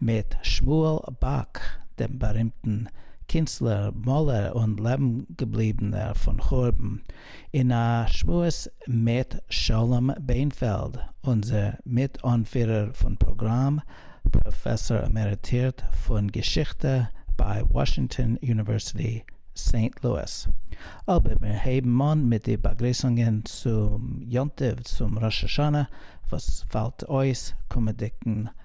מיט שמואל באק, דעם בארימטן קינצלער, מאלער און לעבנגעבליבענער פון חורבן, אין א שמועס מיט שלום בענפעלד, אונזער מיט-אנפירער פון פראגראם, פראפעסאר עמעריטירט פון געשיכטע ביי וואשינגטאן יוניווערסיטי, סעינט לואיס. אבער מיר הייבן אן מיט די באגריסונגען צום יום טוב, צום ראש השנה וואס פאלט אויס קומענדיגן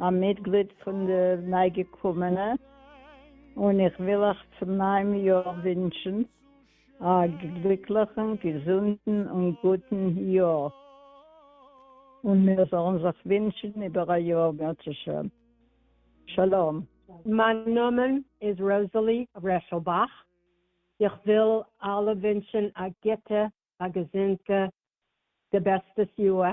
א מיטגליד פון די ניי-געקומענע, און איך וויל אייך צום נייעם יאר ווינטשן א גליקליכן, געזונטן און גוטן יאר, און מיר זאלן זיך ווינטשן איבער א יאר בעזהשם. שלום. מיין נאמען איז ראזעלי רעשלבאך, איך וויל אלע ווינטשן א גוטע, א געזונטע, די בעסטעס יאר,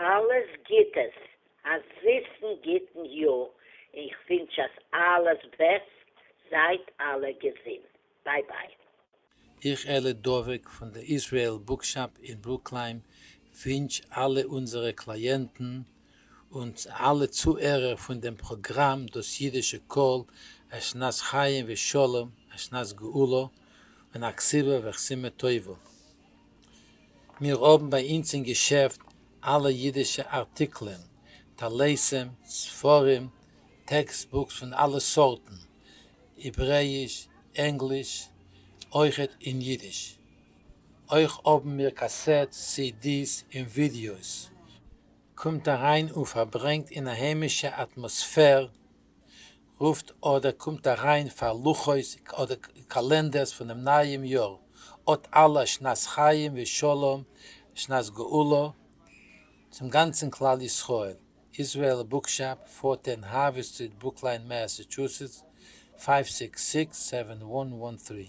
אלעס גיטעס, א זיסן גיטן יאר, אין כ'ווינטש אז אלעס בעסט, זייט אלע געזינט, ביי ביי. איך אלי דובק פון די איזרעיל בוקשאפ אין ברוקליים ווינטש אלע אונזערע קלייענטן און אלע צוהערער פון דעם פראגראם דאס אידישע קול א שנת חיים ושלום א שנת גאולה און א כסבה וכסימה טובה. מיר האבן ביי אונז אין געשעפט אלע אידישע ארטיקלען, טליתים, ספרים, טעקסט בוקס פון אלע סארטן, העברעאיש, ענגליש, אויכעט אין אידיש. אויך האבן מיר קאסעטס, סידיס און ווידיאוס. קומט אריין און פארברענגט אין א היימישע אטמאספער רופט אדער קומט אריין פאר לוחות אדער קאלענדערס פונעם נייעם יאר, אט אלע א שנת חיים ושלום שנת גאולה צום גאנצן כלל ישראל, איזרעאל בוקשאפ, פארטען האוו סטריט ברוקליין מעסעטשוסעטס פייוו סיקס סיקס סעווען וואן וואן טרי.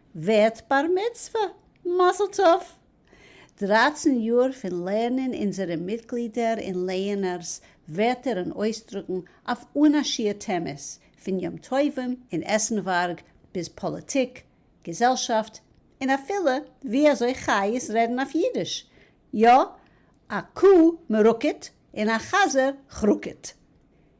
ווערט בר מצוה! מזל טוב! דרײַצן יאר פון לערנען אונזערע מיטגלידער און לייענערס ווערטער און אויסדרוקן אויף אן א שיעור טעמעס, פון יום טובים און עסנווארג ביז פאליטיק, געזעלשאפט, און אפילו ווי אזוי חיות רעדן אויף אידיש, יא, א קוה מרוקט און א חזיר כרוקט.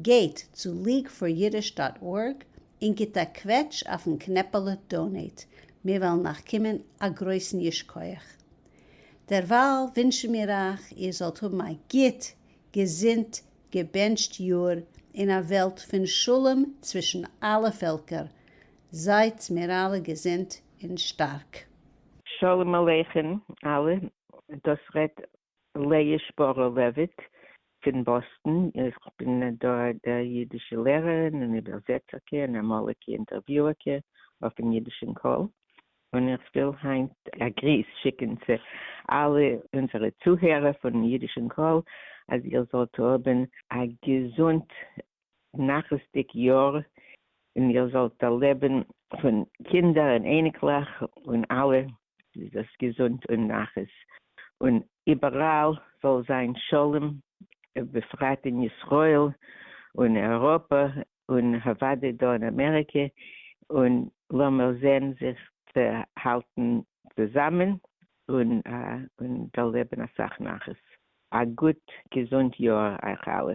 גייט צו ליג פאר אידיש דאט ארג און גיבט א קוועטש אויפן קנעפעלע דאנעיט, מיר וועלן אייך קומען א גרויסן ייש כח. דערווייל ווינטשן מיר אייך איר זאלט האבן א גוט, געזונט, געבענטשט יאר אין א וועלט פון שלום צווישן אלע פעלקער, זייטס מיר אלע געזונט און שטארק. שלום עליכם אלע, דאס רעדט לאה שפארא-לעוויט פון באסטן, איך בין דא דער אידישע לערערין און איבערזעצערקע און אמאליגע אינטערוויוערקע אויפן אידישן קול, און איך וויל היינט א גריס שיקן צו אלע אונזערע צוהערער פון אידישן קול, אז איר זאלט האבן א געזונט א נחת'דיג יאר און איר זאלט דערלעבן פון קינדער און אייניקלעך און אלע זייט געזונט און נחת און איבעראל זאל זיין שלום ובפרט אין ישראל און אייראפע און אוודאי דא אין אמעריקע און לאמיר זען זיך צו האלטן צוזאמען און און דערלעבן אסאך נחת. א גוט געזונט יאר אייך אלע.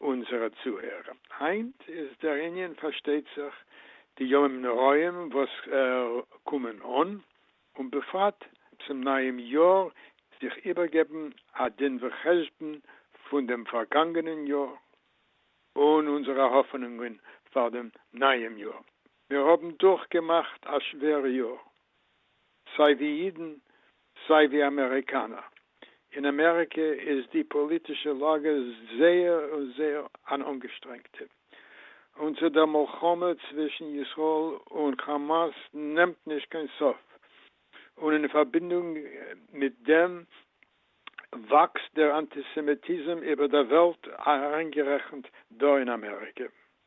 אונזערע צוהערער. היינט איז דער ענין פארשטייט זיך די ימים נוראים וואס קומען אן, און בפרט צום נייעם יאר זיך איבערגעבן א דין וחשבון פון דעם פארגאנגענען יאר, און אונזערע האפענונגען פאר דעם נייעם יאר. מיר האבן דורכגעמאכט א שווערע יאר, סיי ווי אידן סיי ווי אמעריקאנער. אין אמעריקע איז די פאליטישע לאגע זייער און זייער אן אנגעשטרענגטע. און צו דער מלחמה צווישן ישראל און כאמאס נעמט נישט קיין סוף, און אין פארבינדונג מיט דעם וואקסט דער אנטיסעמיטיזם איבער דער וועלט אריינגערעכנט דא אין אמעריקע.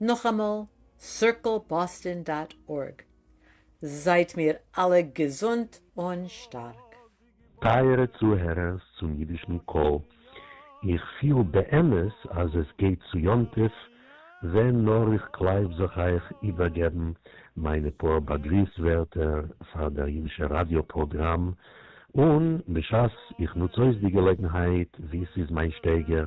נאכאמאל, סירקל באסטאן דאט ארג. זייט מיר אלע געזונט און שטארק. טייערע צוהערערס צום אידישן קול, איך פיל באמת אז עס גייט צו יום טוב, ווען נאר איך קלייב זיך אייך איבערגעבן מיינע פאר באגריס ווערטער פאר דער אידישער ראדיא פראגראם, און בשעת איך נוץ אויס די געלעגנהייט ווי ס'איז מיין שטייגער,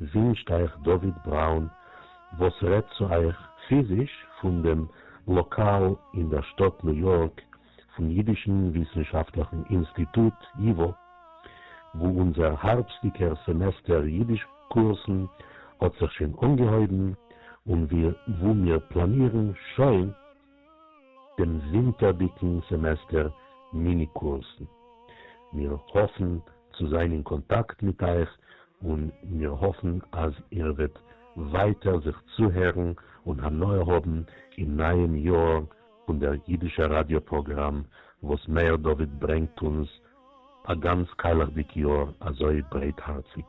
ווינשט אייך דוד בראון וואס רעדט צו אייך פיזיש פון דעם לאקאל אין דער שטאט ניו יארק פון אידישן וויסנשאפטליכן אינסטיטוט ייווא, וואו אונזער הארבסטיגער סעמעסטער אידיש קורסן האט זיך שוין אנגעהויבן און וואו מיר פלאנירן שוין, דעם ווינטערדיגן סעמעסטער מיני קורסן. מיר האפן צו זיין אין קאנטאקט מיט אייך און מיר האפן אז איר וועט ווייטער זיך צוהערן און הנאה האבן אין נייעם יאר פון דער אידישער ראדיא פראגראם וואס מאיר דוד ברענגט אונז א גאנץ קיילעכדיג יאר אזוי ברייטהארציג.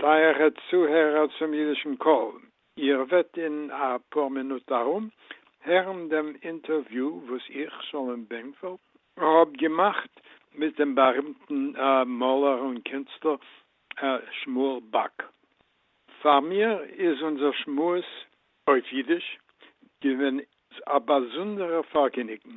טייערע צוהערער צום אידישן קול, איר וועט אין א פאר מינוט ארום הערן דעם אינטערוויו וואס איך, שלום בענקפעלד, האב געמאכט מיט דעם בארימטן מאלער און קינסטלער שמואל באק. פאר מיר איז אונזער שמועס אויף אידיש געווען א באזונדערע פארגעניגן.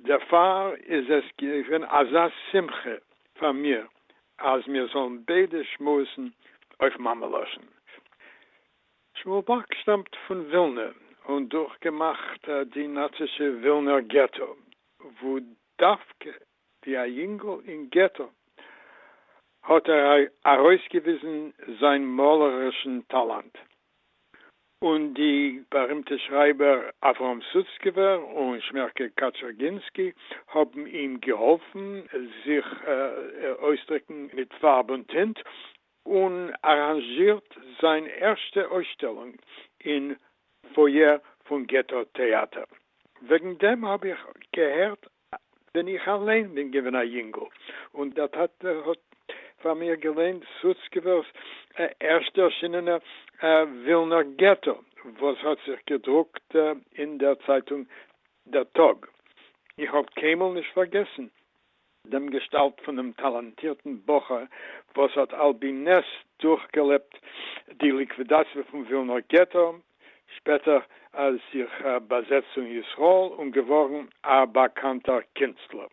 דערפאר איז עס געווען אזא שמחה פאר מיר אז מיר זאלן ביידע שמועסן אויף מאמע לשון. שמואל באק שטאמט פון ווילנע און דורכגעמאכט די נאצישע ווילנער געטא, וואו דווקא ווי א יונגל אין געטא האט ער ארויסגעוויזן זיין מאלערישן טאלאנט, און די בארימטע שרייבער אברהם סוצקעווער און שמערקע קאטשערגינסקי האבן אים געהאלפן זיך אויסדריקן מיט פארב און טינט, און אראנזשירט זיין ערשטע אויסשטעלונג אין פויער פון געטא טעאטער. וועגן דעם האב איך געהערט ווען איך אליין בין געווען א יונגל, און דער טאטע האט פאר מיר געליינט סוצקעווער'ס ערשט ערשינענער ווילנער געטא, וואס האט זיך געדרוקט אין דער צייטונג דער טאג. איך האב קיינמאל נישט פארגעסן דעם געשטאלט פונעם טאלאנטירטן בחור וואס האט על פי נס דורכגעלעבט די ליקווידאציע פון ווילנער געטא, שפעטער זיך באזעצט און ישראל און געווארן א באקאנטער קינסטלער.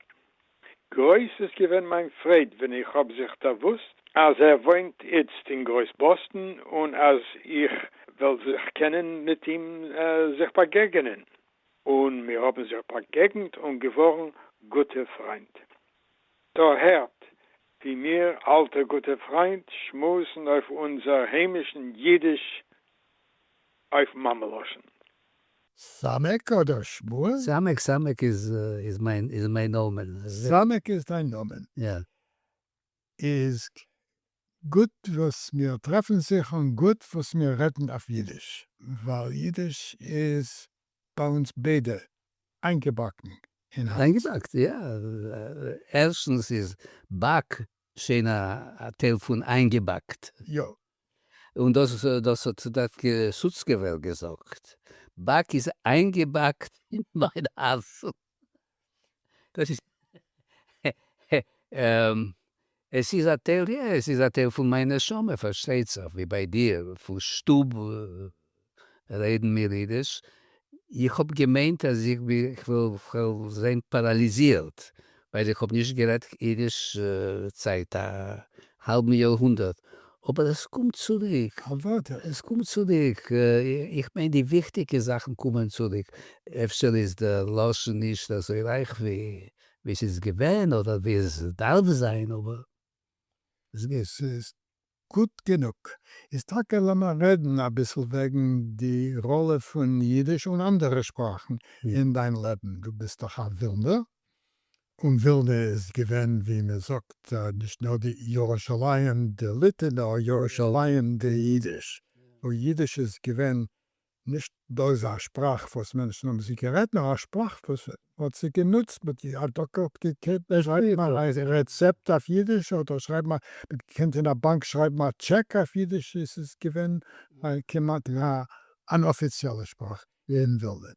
גרויס איז געווען מיין פרייד ווען איך האב זיך דערוואוסט אז ער וואוינט איצט אין גרויס באסטן און אז איך וועל זיך קענען מיט אים זיך באגעגענען. און מיר האָבן זיך באַגעגנט און געװאָרן גוטע פֿרײַנד. דאָ הערט, װי מיר, אַלטע גוטע פֿרײַנד, שמועסן אױף אונדזער הײמישן ייִדיש, אױף מאַמע-לשון. סאַמעק אָדער שמואל? סאַמעק, סאַמעק איז, איז מײַן, איז מײַן נאָמען. סאַמעק איז דײַן נאָמען? יא. איז גוט וואס מיר טרעפן זיך און גוט וואס מיר רעדן אויף אידיש. ווייל אידיש איז ביי אונז ביידע איינגעבאקן אין הארץ. איינגעבאקט, יא. ערשטנס איז באק שוין א טייל פון איינגעבאקט. יא. און דאס האט דארט סוצקעווער געזאגט, באק איז איינגעבאקט אין מיין הארץ. דאס איז עס איז א טייל יא, עס איז א טייל פון מיין נשמה פארשטייט זיך ווי ביי דיר פון שטוב רעדן מיר אידיש, איך האב געמיינט אז איך בין איך וועל זיין פאראליזירט ווייל איך האב נישט גערעדט אידיש זייט א האלבן יאר הונדערט, אבער עס קומט צוריק. אוודאי. עס קומט צוריק, איך מיין די וויכטיגע זאכן קומען צוריק, אפשר איז דער לשון נישט אזוי רייך ווי ס'איז געווען אדער ווי עס דארף זיין אבער עס גייט. ס'איז גוט גענוג. איז טאקע לאמיר רעדן אביסל וועגן די ראלע פון אידיש און אנדערע שפראכן אין דיין לעבן, דו ביסט דאך א ווילנער? און ווילנע איז געווען ווי מען זאגט נישט נאר די ירושלים דעליטע נאר ירושלים דיידיש, וואו אידיש איז געווען נישט בלויז א שפראך וואס מענטשן האבן זי גערעדט נאר א שפראך וואס מען האט זי גענוצט מיט די א דוקא האט געקענט שרייבן א רעצעפט אויף אידיש אדער שרייבן א מען האט געקענט אין א באנק שרייבן א טשעק אויף אידיש עס איז געווען כמעט אן אפיציעלע שפראך אין ווילנע.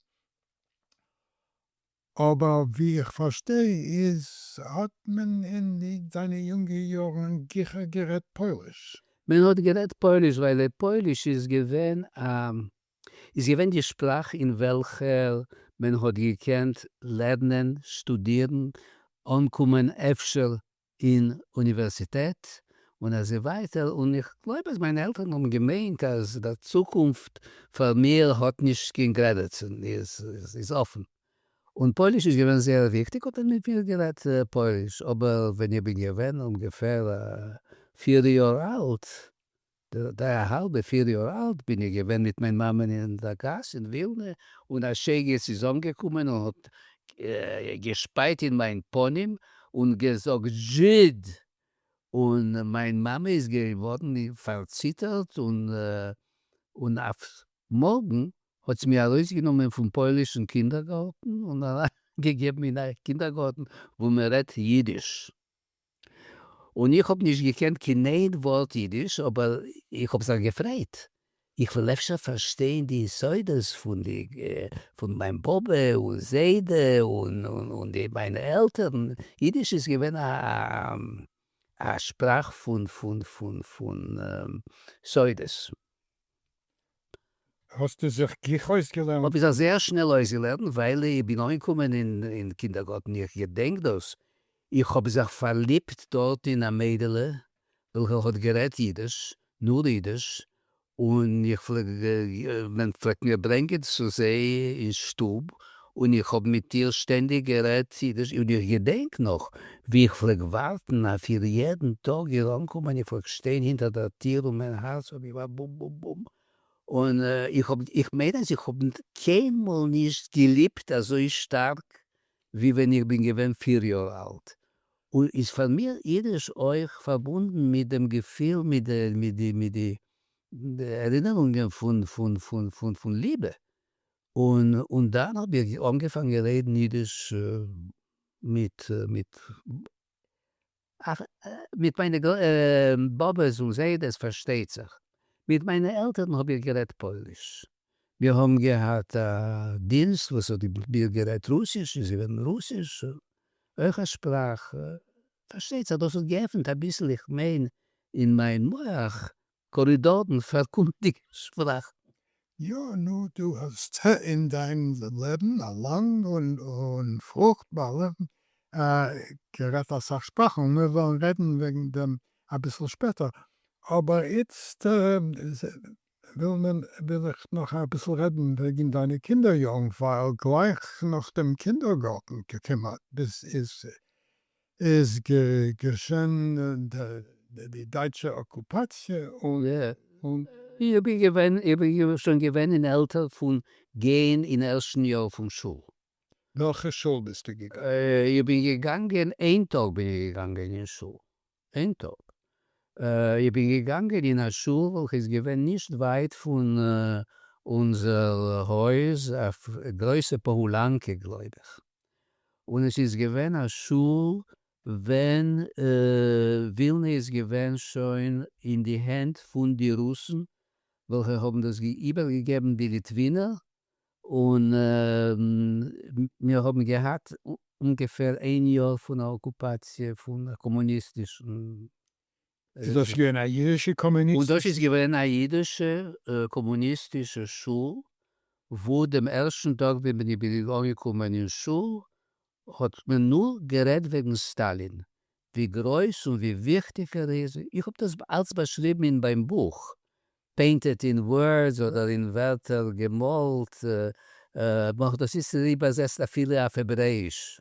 אבער ווי איך פארשטיי איז האט מען אין זיינע יונגע יארן גיכער גערעדט פויליש. מען האט גערעדט פויליש ווייל פויליש איז געווען א איז געווען די שפראך אין וועלכער מען האט געקענט לערנען, שטודירן, אנקומען אפשר אין אוניווערסיטעט און אזוי ווייטער, און איך גלויב אז מיינע עלטערן האבן געמיינט אז דער צוקונפט פאר מיר האט נישט קיין גרענעצן, איז אפן. און פויליש איז געווען זייער וויכטיג האט ער מיט מיר גערעדט פויליש, אבער ווען איך בין געווען אומגעפער פיר יאר אלט גראדע א האלבע פיר יאר אלט בין איך געווען מיט מיין מאמען אין א גאס אין ווילנע און א שייגעץ איז אנגעקומען און האט געשפייט אין מיין פנים און געזאגט זשיד! און מיין מאמע איז געווארן פארציטערט און אויף מארגן האט זי מיר ארויסגענומען פון פוילישן קינדערגארטן און אריינגעגעבן אין א קינדערגארטן וואו מען רעדט אידיש. און איך האב נישט געקענט קיין איין ווארט אידיש אבער איך האב זיך געפרייט איך וועל אפשר פארשטיין די יסודות פון די פון מיין באבע און זיידע און די מיינע עלטערן, אידיש איז געווען א שפראך פון פון פון פון סודות. האסטו זיך גיך אויסגעלערנט? האב איך זיך זייער שנעל אויסגעלערנט ווייל איך בין אנגעקומען אין קינדערגארטן איך געדענק דאס איך האב זיך פארליבט דארט אין א מיידעלע וועלכע האט גערעדט אידיש, נאר אידיש, און איך פלעג, מען פלעגט מיר ברענגען צו זיי אין שטוב און איך האב מיט איר שטענדיג גערעדט אידיש, און איך געדענק נאך ווי איך פלעג ווארטן אויף איר יעדן טאג איר אנקומען, איך פלעג שטיין הינטער דער טיר און מיין הארץ האט געמאכט בום בום בום, און איך האב, איך מיין אז איך האב קיינמאל נישט געליבט אזוי שטארק ווי ווען איך בין געווען פיר יאר אלט, און איז פאר מיר אידיש אויך פארבונדן מיט דעם געפיל, מיט די, מיט די, מיט די ערינערונגען פון, פון, פון, פון, פון ליבע, און און דאן האב איך אנגעפאנגען רעדן אידיש מיט מיט מיט מיינע באבעס און זיידעס פארשטייט זיך, מיט מיינע עלטערן האב איך גערעדט פויליש, מיר האבן געהאט א דינסט וואס האט גערעדט רוסיש איז געווען רוסיש אויך א שפראך, פארשטייט זיך דאס האט געעפנט אביסל איך מיין אין מיין מח קארידארן פאר קומענדיגע שבראכן. יא, נו, דו האסט אין דיין לעבן א לאנג און פרוכטבארע גערעדט אסאך שפראכן, און מיר וועלן רעדן וועגן דעם אביסל שפעטער, אבער איצט וויל איך נאך אביסל רעדן וועגן דיינע קינדער יארן, ווייל גלייך נאך דעם קינדערגארטן כמעט ביז איז געשען די דייטשע אקופאציע און. איך בין געווען, איך בין שוין געווען אין עלטער פון גיין אין ערשטן יאר פון שול. וועלכע שול ביסטו געגאנגען? איך בין געגאנגען, איין טאג בין איך געגאנגען אין שול, איין טאג. איך בין געגאנגען אין א שול וועלכע איז געווען נישט ווייט פון אונזער הויז, א גרויסע פאהלאנקע גלויב איך. און עס איז געווען א שול ווען ווילנע איז געווען שוין אין די הענט פון די רוסן וועלכע האבן דאס איבערגעגעבן די ליטווינער, און מיר האבן געהאט אומגעפער איין יאר פון א אקופאציע פון א קאמוניסטישן איז דאס געווען א אידישע קאמוניסטישע? און דאס איז געווען א אידישע קאמוניסטישע שול, וואו דעם ערשטן טאג ווען איך בין אנגעקומען אין שול האט מען נאר גערעדט וועגן סטאלין, ווי גרויס און ווי וויכטיג ער איז, איך האב דאס אלץ באשריבן אין מיין בוך, Painted in Words אדער אין ווערטער געמאלט, מ'האט דאס איצטער איבערזעצט אפילו אויף העברעאיש.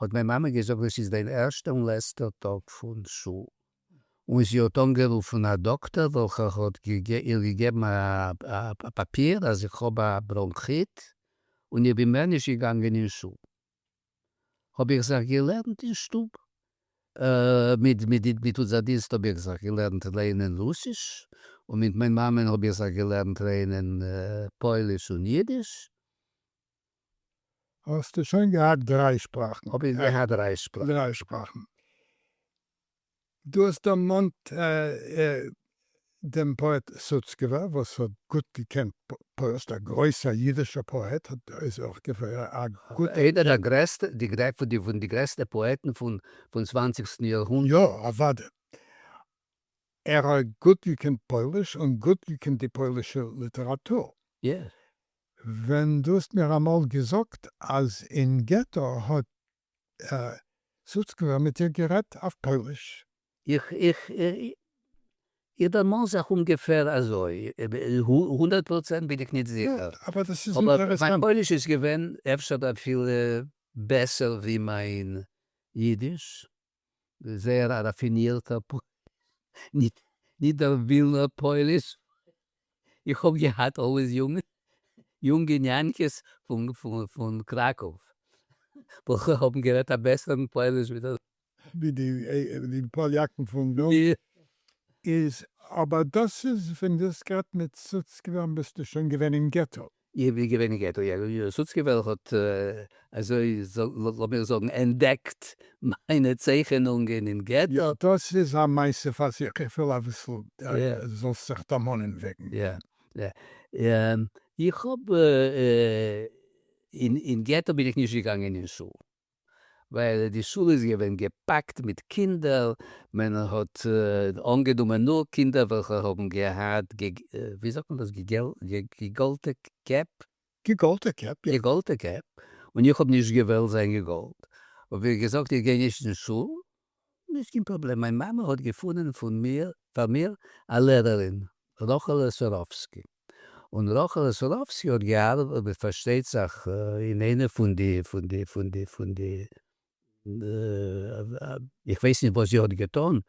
האט מיין מאמע געזאגט דאס איז דיין ערשטע און לעצטע טאג פון שול, און זי האט אנגערופן א דאקטער וועלכער האט איר געגעבן א פאפיר אז איך האב א בראנכיט און איך בין מער נישט געגאנגען אין שול, האב איך זיך געלערנט אין שטוב, מיט אונזער דינסט האב איך זיך געלערנט לערנען רוסיש, און מיט מיין מאמע'ן האב איך זיך געלערנט לערנען פויליש און אידיש. האסטו שוין געהאט דריי שפראכן. האב איך געהאט דריי שפראכן. דריי שפראכן. דו האסט דערמאנט דעם פאעט סוצקעווער וואס האט גוט געקענט פוירשט, א גרויסע אידישע פאעט, איז אויך געווען א גוטע. איינער דער גרעסטע, פון די גרעסטע פאעטן פון צוואנציגסטן יארהונדערט. יא, אוודאי. ער האט גוט געקענט פויליש און גוט געקענט די פוילישע ליטעראטור. יא. ווען דו האסט מיר אמאל געזאגט אז אין געטא האט סוצקבר מיט דיר גערעדט אויף פויליש. איך איך איך דערמאן זיך אומגעפער אזוי, הונדערט פראצענט בין איך ניט זיכער, אבער מיין פויליש איז געווען אפשר אפילו בעסער ווי מיין אידיש, זייער א ראפינירטער פאליס, נישט דער ווילנער פאליס, איך האב געהאט אלוועיס יונגע ניאנקעס פון קראקוב וועלכע האבן גערעדט א בעסערן פאליש ווי דער. ווי די פאליאקן פון דא איז, אבער דאס איז ווען דו האסט גערעדט מיט סוצקעווער ביסטו שוין געווען אין געטא. איך בין געווען אין געטא יענער יאיר סוצקער וועלכע האט אזוי לאמיר זאגן ענטדעקט מיינע צייכענונגען אין געטא. יא דאס איז א מעשה פאר זיך, איך וויל אביסל דו זאלסט זיך דערמאנען וועגן. יא יא איך האב אין געטא בין איך נישט געגאנגען אין שול. ווייל די שול איז געווען געפאקט מיט קינדער, מען האט אנגענומען נאר קינדער וועלכע האבן געהאט געגאלטע קעפ, געגאלטע קעפ, יא, געגאלטע קעפ, און איך האב נישט געוואלט זיין געגאלט, האב איך געזאגט איך גיי נישט אין שול, נישט קיין פראבלעם, מיין מאמע האט געפונען פון מיר פאר מיר א לערערין, רחלע סורובסקי, און רחלע סורובסקי האט געארבעט פארשטייט זיך אין איינע פון די פון די פון די פון די איך ווייס נישט וואס זי האט געטון,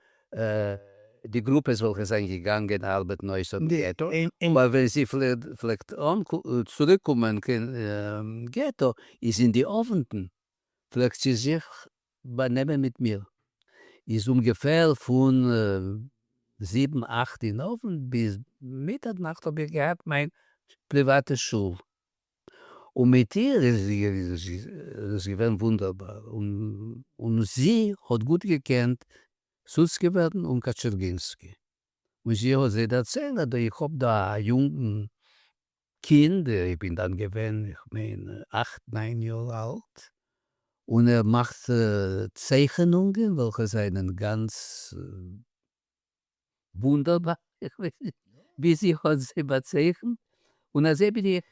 די גרופעס וועלכע זענען געגאנגען ארבעטן אויס אויפן געטא, אבער ווען זי פלעגט צוריק קומען קיין געטא איז אין די אוונטן פלעגט זי זיך באנעמען מיט מיר איז אומגעפער פון זיבן אכט אין אווענט ביז מיטער נאכט האב איך געהאט מיין פריוואטע שול און מיט איר איז עס געווען וואונדערבאר און זי האט גוט געקענט סוצקעווערן און קאטשערגינסקי און זי האט זיי דערציילט אז איך האב דא א יונגן קינד, איך בין דאן געווען איך מיין אכט ניין יאר אלט, און ער מאכט צייכענונגען וועלכע זענען גאנץ וואונדערבאר, איך ווייס נישט ווי זי האט זיי באצייכנט, און אזוי בין איך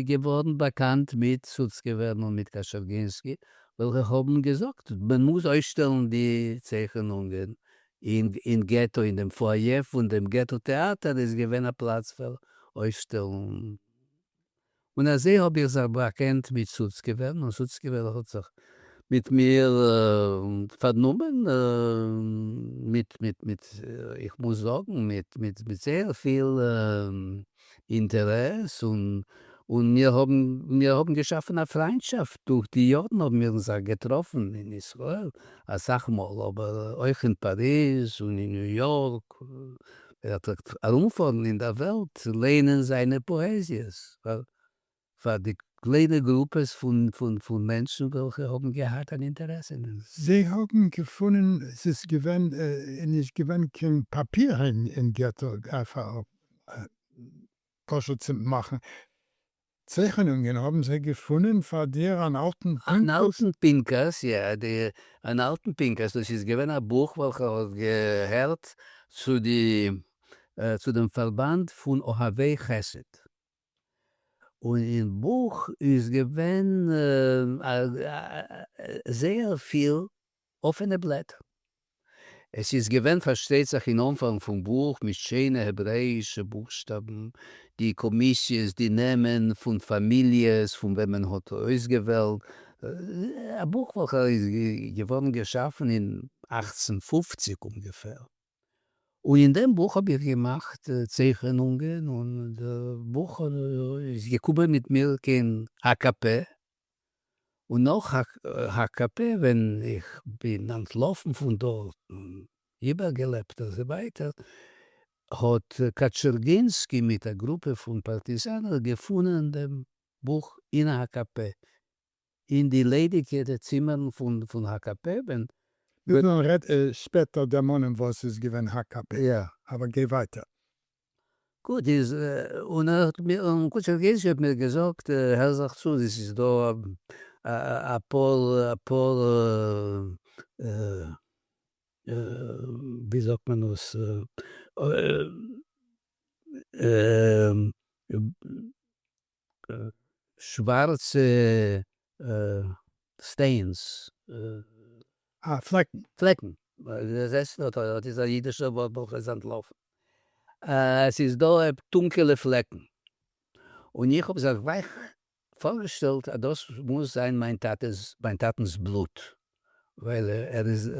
געווארן באקאנט מיט סוצקעווער און מיט קאשערגינסקי וועלכע האבן געזאגט מען מוז אויסשטעלן די צייכענונגען אין געטא אין דעם פאיע פון דעם געטא טעאטער איז געווען א פלאץ פאר אויסשטעלונגען, און אזוי האב איך זיך באקענט מיט סוצקעווער, און סוצקעווער האט זיך מיט מיר פארנומען מיט, איך מוז זאגן, מיט זייער פיל אינטערעס און און מיר האבן מיר האבן געשאפן א פריינטשאפט, דורך די יארן האבן מיר אונז זיך געטראפן אין ישראל אסאך מאל אבער אויך אין פאריז און אין ניו יארק, ער פלעגט ארומפארן אין דער וועלט לערנען זיינע פאעזיעס פאר פאר די קליינע גרופעס פון מענטשן וועלכע האבן געהאט אן אינטערעסע אין דעם. זיי האבן געפונען עס איז געווען נישט געווען קיין פאפיר אין געטא פשוט צו מאכן צייכענונגען האבן זיי געפונען פאר דיר אן אלטן. אן אלטן פנקס, יא, אן אלטן פנקס, דאס איז געווען א בוך וועלכע האט געהערט צו די צו דעם פארבאנד פון אוהבי חסד. און אין בוך איז געווען זייער פיל אפענע בלעט. עס איז געווען פארשטייט זיך אין אנפאנג פון בוך מיט שיינע העברעאישע בוכשטאבן די קאמיסיעס, די נעמען פון פאמיליעס פון וועם מען האט אויסגעוועלט. א בוך וועלכע איז געווארן געשאפן אין אַכצן פֿופֿציק אומגעפער. און אין דעם בוך האב איך געמאכט צייכענונגען און דער בוך איז געקומען מיט מיר קיין הקב ה, און נאך הקב ה ווען איך בין אנטלאפן פון דארט און איבערגעלעבט אזוי ווייטער, האט קאטשערגינסקי מיט א גרופע פון פארטיזאנער געפונען דעם בוך אין הקב ה, אין די ליידיגע צימערן פון הקב ה. נו דאן רעד שפעטער דערמאנען וואס איז געווען הקב ה, אבער גיי ווייטער. גוט איז, און קודשא גזע האט מיר געזאגט, הער זיך צו, עס איז דא אפאר, אפאר, ווי זאגט מען עס, שווארצע סטעינס. אה, פלעקן. פלעקן. זעסט, אט איז א אידישער ווארט וועלכע איז אנטלאפן. עס איז דא טונקעלע פלעקן. און איך האב זיך גלייך פארגעשטעלט אז דאס מוז זיין מיין טאטע'ס, מיין טאטנ'ס בלוט. ווייל ער איז,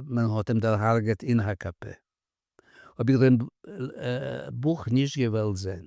מען האט אים דערהארגעט אין הקפה. האב איך דעם בוך נישט געוואלט זען.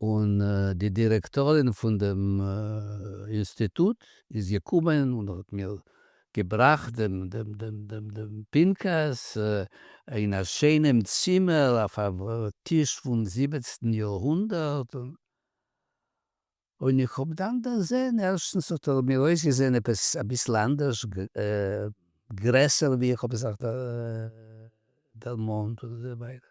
און די דירעקטארין פון דעם אינסטיטוט איז געקומען און האט מיר געבראכט דעם פנקס אין א שיינעם צימער אויף א טיש פון זיבעצן יארהונדערט, און איך האב דאן דערזען, ערשטנס האט ער מיר אויסגעזען עפעס אביסל אנדערש, גרעסער ווי איך האב זיך דערמאנט און אזוי ווייטער,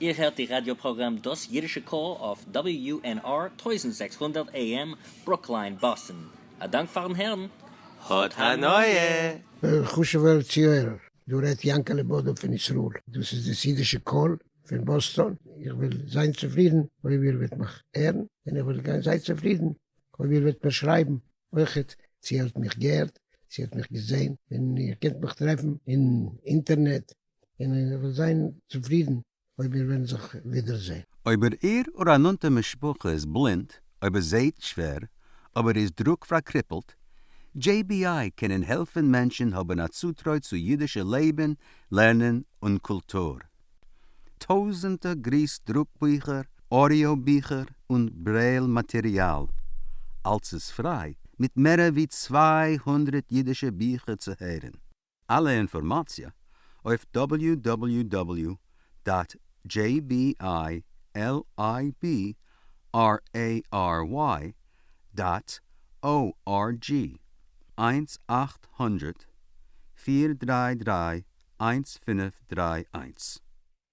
איר הערט די ראדיא פראגראם דאס אידישע קול אויף WNR טויזנט זעקס הונדערט AM ברוקליין באסטן. א דאנק פארן הערן. האט הנאה! וועלכע חשוב'ער צוהערער? דא רעדט יענקעלע בודא פון ישראל. דאס איז דאס אידישע קול פון באסטאן. איך וועל זיין צופרידן אויב איר וועט מיך הערן, און איך וועל גיין זייער צופרידן אויב איר וועט מיר שרייבן אויכעט צו איר האט מיך געהערט, צו איר האט מיך געזען, און איר קענט מיך טרעפן אין אינטערנעט. און ער וועט זיין צופרידן אויב מיר וועלן זיך ווידער זען. אויב ער איר א נאנטע משפחה איז בלינד, אויב ער זעהט שווער, אויב ער איז דרוק פארקריפלט. JBI קענען העלפן מענטשן האבן א צוטרוי צו אידישע לעבן, לערנען און קולטור. טויזענטע גריס דרוק ביכער, אודיאו ביכער און ברעיל מאטעריאל. אלס איז פריי, מיט מערער ווי צוויי הונדרעט אידישע ביכער צו הערן. אלע אינפארמאציע אויף דאבעליו דאבעליו דאבעליו דאט דזשעי בי איי על איי בי אר עי אר וויי דאט או אר דזשי, איינס אַכט הונדרעט פֿיר דרײַ דרײַ איינס פֿינף דרײַ איינס.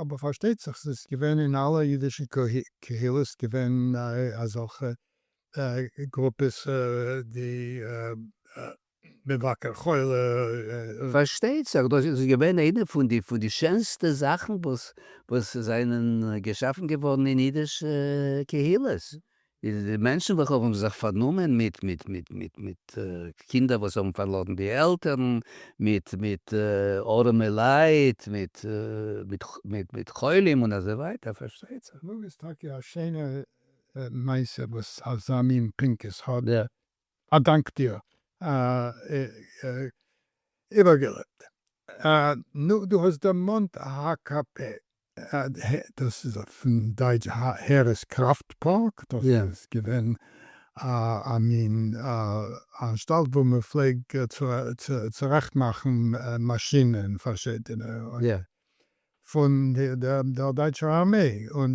אבער פארשטייט זיך ס'איז געווען אין אלע אידישע קהילות געווען אזעלכע גרופעס די מבקר חולה. פארשטייט זיך דאס איז געווען איינע פון די פון די שענסטע זאכן וואס זענען געשאפן געווארן אין אידישע קהילות איז די מענטשן וועלכע האבן זיך פארנומען מיט מיט מיט מיט מיט קינדער וואס האבן פארלארן די עלטערן, מיט מיט ארעמע לייט, מיט מיט מיט מיט חולים און אזוי ווייטער, פארשטייט זיך. קלאג איז טאקע א שיינע מעשה וואס אזא מין פנקס האט דער א דאנק דיר איבערגעלעבט. נו, דו האסט דערמאנט הק' פ. דאס איז פון דייטש הערעס קראפט פארק, דאס איז געווען א מין אנשטאלט וואו מען פלעג צורעכט מאכן מאשינען פארשידענע פון דער דייטשער ארמעי, און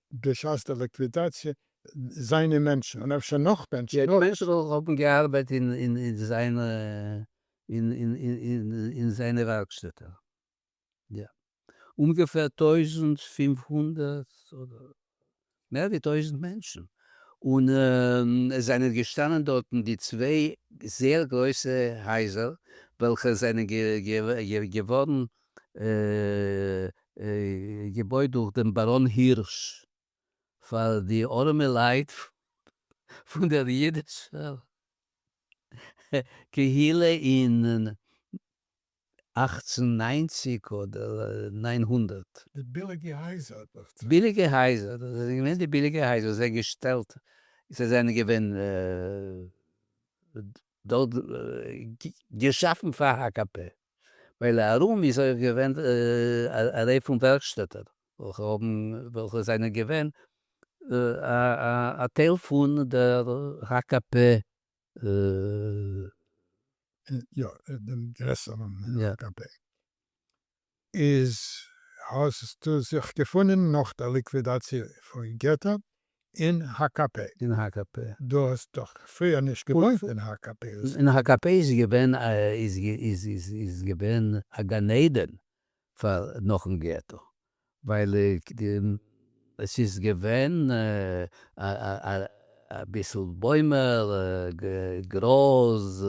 בשעת דער ליקווידאציע זיינע מענטשן און אפשר נאך מענטשן נאר. מענטשן וועלכע האבן געארבייט אין זיינע ווארקשטעטער. יא. אומגעפער טויזנט פֿינף הונדערט אדער מער ווי טויזנט מענטשן. און עס זענען געשטאנען דארטן די צוויי זייער גרויסע הייזער וועלכע זענען געווארן געבויט דורך דעם באראן הירש פאר די ארעמע לייט פון דער אידישער קהילה אין אַכצן נײַנציק אדער נײַן הונדערט. די ביליגע הייזער דאכצעך. ביליגע הייזער, דאס זענען געווען די ביליגע הייזער וואס זיי געשטעלט, זיי זענען געווען דארט געשאפן פאר הקב ה. ווייל ארום איז אויך געווען א ריי פון ווערקשטעטער וועלכע האבן וועלכע זענען געווען א טייל פון דער הקב ה. יא, דעם גרעסערן הקב ה. איז האסטו זיך געפונען נאך דער ליקווידאציע פון געטא אין הקב ה. אין הקב ה. דו האסט דאך פריער נישט געוואוינט אין הקב ה. אין הקב ה איז געווען א איז איז געווען א גן עדן פאר נאכן געטא, ווייל עס איז געווען אביסל בוימער, גראז,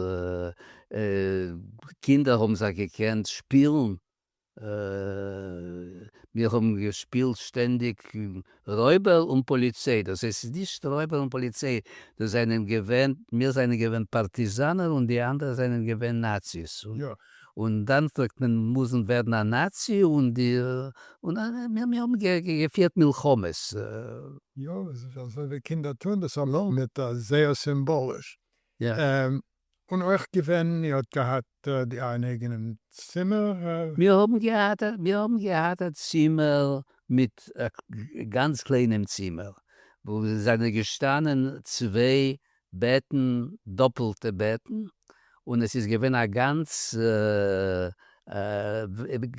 קינדער האבן זיך געקענט שפילן מיר האבן געשפילט שטענדיג רויבער און פאליציי, דאס הייסט ס'איז נישט רויבער און פאליציי, דאס זענען געווען, מיר זענען געווען פארטיזאנער און די אנדערע זענען געווען נאציס, און דאן פלעגט מען מוזן ווערן א נאצי און די, און מיר האבן געפירט מלחמות. יא, אזוי ווי קינדער טוהן דאס אליין מיט זייער סימבאליש. און אויך געווען, איר האט געהאט די אייערן אייגענעם צימער? מיר האבן געהאט א מיר האבן געהאט א צימער מיט א גאנץ קליינעם צימער וואו עס זענען געשטאנען צוויי בעטן דאפעלטע בעטן און עס איז געווען א גאנץ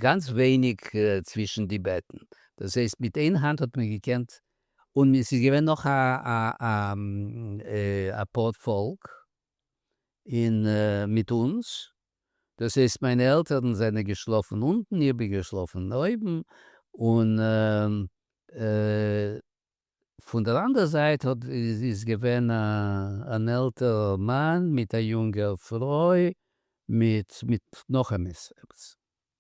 גאנץ ווייניג צווישן די בעטן דאס הייסט מיט איין האנט האט מען געקענט און עס איז געווען נאך א פאר פאלק מיט אונז, דאס הייסט מיינע עלטערן זענען געשלאפן אונטן, איך בין געשלאפן אויבן, און פון דער אנדערע זייט איז געווען אן עלטערע מאן מיט א יונגער פרוי מיט נאך עפעס.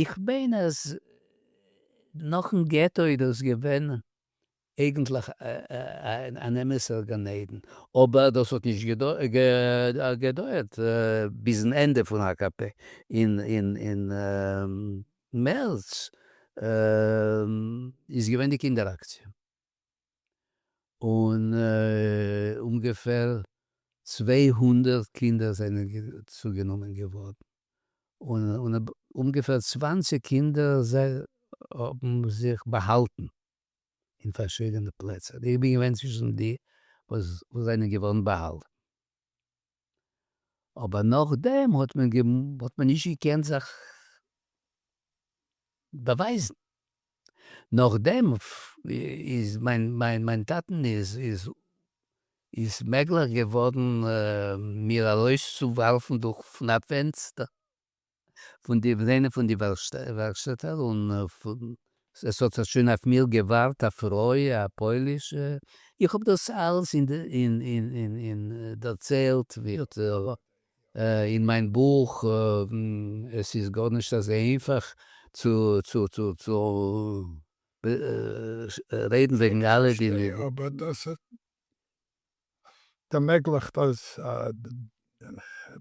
איך מיין אז נאכן געטא איז דאס געווען אייגענטליך אן אמת'ער גן עדן, אבער דאס האט נישט געדויערט ביזן ענדע פון הקב ה אין מערץ איז געווען די קינדער אקציע. און אומגעפער צוויי הונדערט קינדער זענען צוגענומען געווארן, און אומגעפער צוואנציג קינדער האבן זיך באהאלטן אין פארשידענע פלעצער, איך בין געווען צווישן די וואס זענען געווארן באהאלטן. אבער נאכדעם האט מען נישט געקענט זיך באווייזן, נאכדעם איז מיין טאטן איז מעגליך געווארן מיר ארויסצואווארפן דורך פון א פענסטער. פון די פלענער פון די ווארשטעטער און עס האט זיך שוין אויף מיר געווארט א פרוי א פוילישע, איך האב דאס אלעס דערציילט אין מיין בוך, עס איז גארנישט אזוי איינפאך צו רעדן וועגן אלע די. ערמעגליכט אז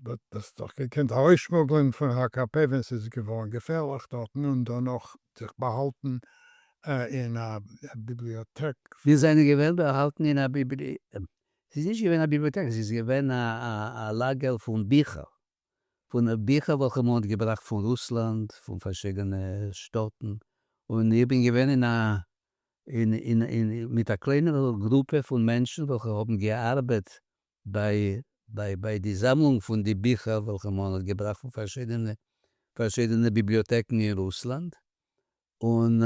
מ'האט עס דאך געקענט ארויסשמוגלען פון הקב ה ווען ס'איז געווארן געפערליך דארטן און דערנאך זיך באהאלטן אין א ביבליאטעק. מיר זענען געווען באהאלטן אין א ביבליאטעק, ס'איז נישט געווען א ביבליאטעק, ס'איז געווען א לאגער פון ביכער. פון ביכער וועלכע מען האט געבראכט פון רוסלאנד פון פארשידענע שטאטן, און איך בין געווען אין א מיט א קלענערע גרופע פון מענטשן וועלכע האבן געארבעט ביי די זאמלונג פון די ביכער וועלכע מען האט געבראכט פון פארשידענע ביבליאטעקן אין רוסלאנד, און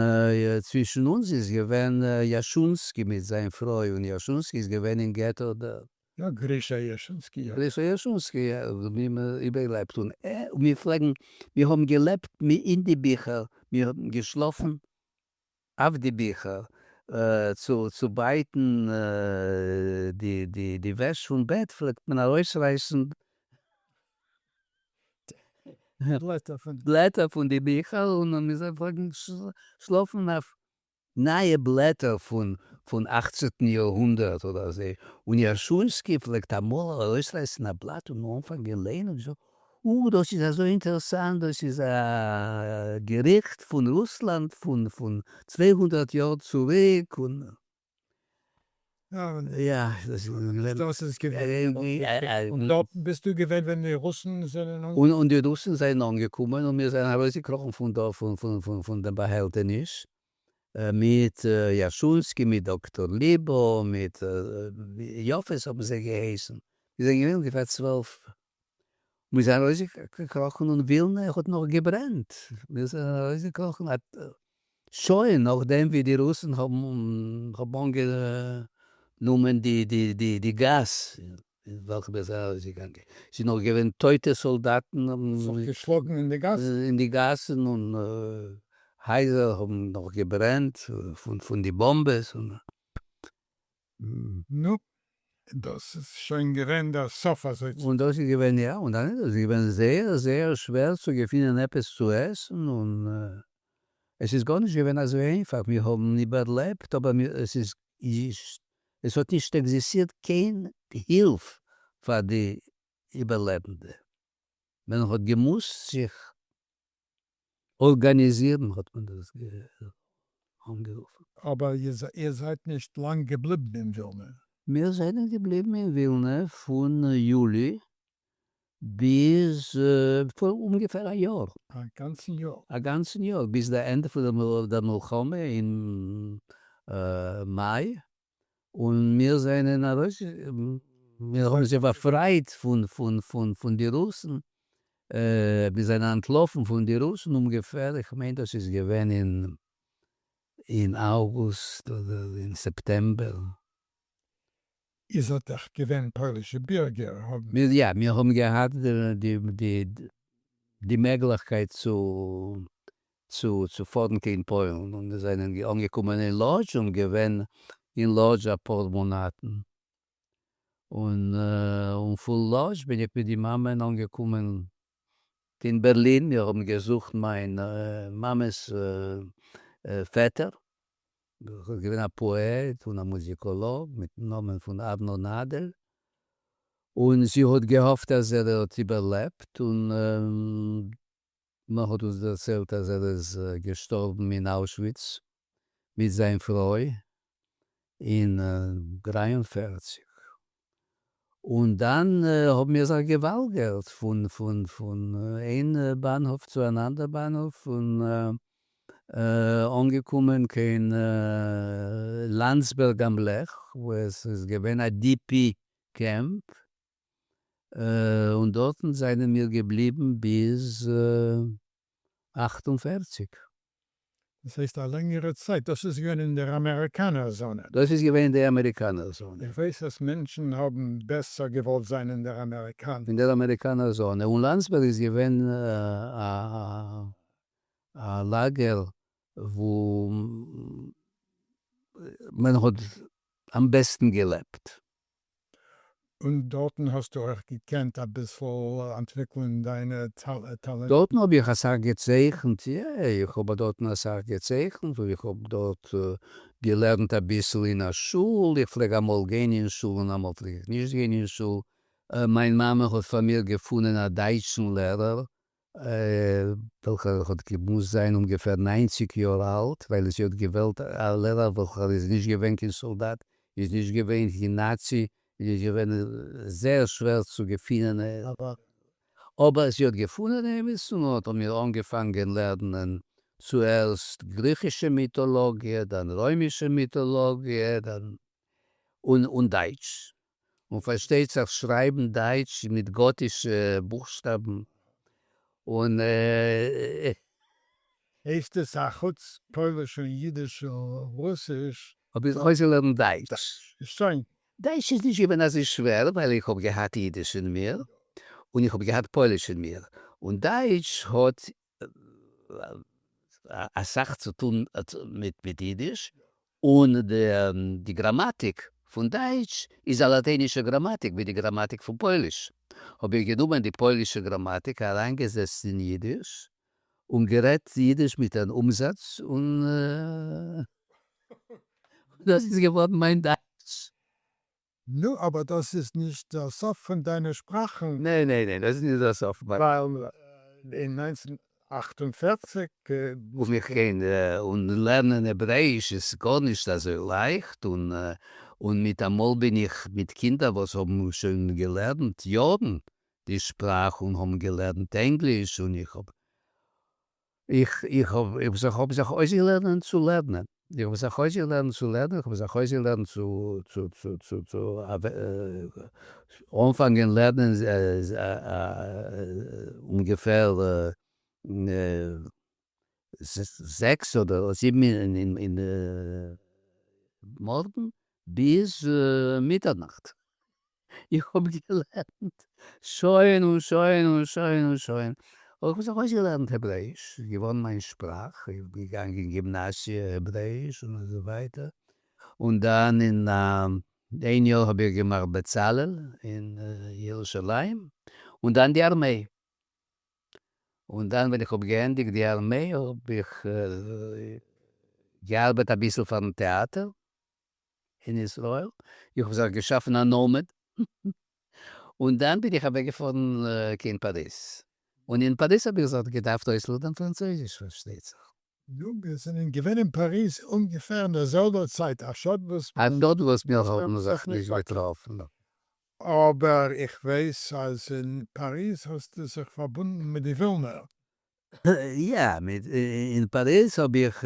צווישן אונז איז געווען יאשונסקי מיט זיין פרוי, און יאשונסקי איז געווען אין געטא דארט. יא, גרישא יאשונסקי, יא. גרישא יאשונסקי, יא, מיר האבן איבערגעלעבט, און מיר פלעגן, מיר האבן געלעבט אין די ביכער, מיר האבן געשלאפן אויף די ביכער, צו בייטן די וועש פון בעט פלעגט מען ארויסרייסן. בלעטער פון די ביכער און מען מוז זיי פארגן שלאפן אויף נייע בלעטער פון אכצענטן יאר-הונדערט אדער אזוי, און יאשוינסקי פלעגט אמאל ארויסרייסן א בלאט און אנפאנגען ליינען און זאגן, או, דאס איז אזוי אינטערעסאנט, דאס איז א געריכט פון רוסלאנד פון צוויי הונדערט יאר צוריק, און. יא, דאס איז געווען. דארט ביסטו געווען ווען די רוסן זענען. און די רוסן זענען אנגעקומען און מיר זענען ארויסגעקראכן פון דא פון דעם באהעלטעניש מיט יאשונסקי מיט דאקטאר ליבא מיט יאפעס האבן זיי געהייסן, מיר זענען געווען אונגעפער צוועלף מיר זענען ארויסגעקראכן און ווילנע האט נאך געברענט, מיר זענען ארויסגעקראכן א שעה נאכדעם ווי די רוסן האבן אנגענומען די גאס אין וועלכע מיר זענען ארויסגעגאנגען, ס'איז נאך געווען טויטע סאלדאטן, זיך געשלאגן אין די גאסן, אין די גאסן, און הייזער האבן נאך געברענט פון די באמבעס, נו, דאָס איז שוין געווען דער סוף אַזוי צו. און דאָס איז געווען, יאָ, און דאַנעט איז געווען זייער, זייער שווער צו געפינען עפּעס צו עסן, און עס איז גאָרנישט געווען אַזוי איינפאַך. מיר האָבן איבערלעבט, אָבער מיר, עס איז נישט, עס האָט נישט עקזיסטירט קיין הילף פאַר די איבערלעבנדע. מען האָט געמוזט זיך ארגאניזירן האט מען דאס אנגערופן. אבער איר זייט נישט לאנג געבליבן אין ווילנע. מיר זענען געבליבן אין ווילנע פון יולי ביז פאר אומגעפער א יאר. א גאנצן יאר? א גאנצן יאר, ביז די ענדע פון דער מלחמה אין מאי. און מיר זענען ארויס, מיר האבן זיך באפרייט פון די רוסן, מיר זענען אנטלאפן פון די רוסן אומגעפער, איך מיין דאס איז געווען אין אוגוסט אדער אין סעפטעמבער. איר זענט דאך געווען פוילישע בירגער, האבן. יא, מיר האבן געהאט די מעגליכקייט צו צו צו פארן קיין פוילן און מיר זענען גע אנגעקומען אין לאדזש און געווען אין לאדזש אפאר מאנאטן און און פון לאדזש בין איך מיט די מאמען אנגעקומען אין בערלין מיר האבן געזוכט מיין מאמע'ס פעטער וואס איז געווען א פאעט און א מוזיקאלאג מיטן נאמען פון ארנון נאדעל און זי האט געהאפט אז ער האט איבערלעבט און מען האט אונז דערציילט אז ער איז געשטארבן אין אוישוויץ מיט זיין פרוי אין דרײַ און פֿערציק, און דאן האבן מיר זיך געוואלגערט פון פון איין באנהאף צו אן אנדער באנהאף, און אנגעקומען קיין לאנדסבערג אםלעך וואו עס איז געווען א די פי קעמפ, און דארטן זענען מיר געבליבן ביז אַכט און פֿערציק. דאס הייסט א לענגערע צייט. דאס איז געווען אין דער אמעריקאנער זאנע. דאס איז געווען אין די אמעריקאנער זאנע. איך ווייס אז מענטשן האבן בעסער געוואלט זיין אין דער אמעריקאנער. אין דער אמעריקאנער זאנע. און לאנדסבערג איז געווען א לאגער וואו מען האט אמבעסטן געלעבט. און דארטן האסטו אויך געקענט אביסל אנטוויקלען דיינע טאלענטן? דארטן האב איך אסאך געצייכנט, יא, איך האב דארטן אסאך געצייכנט, און איך האב דארט געלערנט אביסל אין א שול, איך פלעג אמאל גיין אין שול און אמאל פלעג איך נישט גיין אין שול, מיין מאמע האט פאר מיר געפונען א דייטשן לערער וועלכער האט געמוזט זיין אומגעפער ניינציג יאר אלט, ווייל זי האט געוועלט א לערער וועלכער איז נישט געווען קיין סאלדאט, איז נישט געווען קיין נאצי, און איז געווען זייער שווער צו געפינען אים. אבער זי האט געפונען אים, און און האט האבן מיר אנגעפאנגען לערנען צוערשט גריכישע מיטאלאגיע, דאן רוימישע מיטאלאגיע, דאן און דייטש, און פארשטייט זיך שרייבן דייטש מיט גאטישע בוכשטאבן און. הייסט עס אחוץ פויליש און אידיש און רוסיש? האב איך זיך אויסגעלערנט דייטש. שוין. דייטש איז נישט געווען אזוי שווער ווייל איך האב געהאט אידיש אין מיר און איך האב געהאט פויליש אין מיר און דייטש האט אסאך צו טון מיט אידיש, און די גראמאטיק פון דייטש איז א לאטיינישע גראמאטיק ווי די גראמאטיק פון פויליש, האב איך גענומען די פוילישע גראמאטיק אריינגעזעצט אין אידיש און גערעדט אידיש מיט אן אומזאץ און דאס איז געווארן מיין דייטש. נו, אבער דאס איז נישט דער סוף פון דיינע שפראכן. ניין, ניין, ניין, דאס איז נישט דער סוף. ווייל אין נײַנצן אַכט און פֿערציק. רוף מיך גיין און לערנען העברעאיש איז גארנישט אזוי לייכט, און און מיטאמאל בין איך מיט קינדער וואס האבן שוין געלערנט יארן די שפראך און האבן געלערנט ענגליש און איך האב. איך האב זיך אויסגעלערנען צו לערנען, איך האב זיך אויסגעלערנט צו לערנען, איך האב זיך אויסגעלערנט צו אנפאנגען לערנען אומגעפער זעקס אדער זיבן אין מארגן ביז מיטערנאכט. איך האב געלערנט שוין און שוין און שוין און שוין, אבער כ'האב זיך אויסגעלערנט העברעיש, ס'איז געווארן מיין שפראך, איך בין געגאנגען אין גימנאסיע העברעיש און אזוי ווייטער, און דאן אין איין יאר האב איך געמאכט בצלאל אין ירושלים, און דאן די ארמיי, און דאן ווען איך האב געענדיגט די ארמיי האב איך געארבעט אביסל פארן טעאטער, אין ישראל, איך האב זיך געשאפן א נאמען, און דאן בין איך אוועק געפארן קיין פאריז, און אין פאריז האב איך זיך געדארפט אויסלערנען פראנצויזיש פארשטייט זיך. נו, מיר זענען געווען אין פאריז אומגעפער אין דער זעלבער צייט, א שאד וואס מיר האבן זיך נישט געטראפן. אבער איך ווייס אז אין פאריז האסטו זיך פארבונדן מיט די ווילנער. יא, אין פאריז האב איך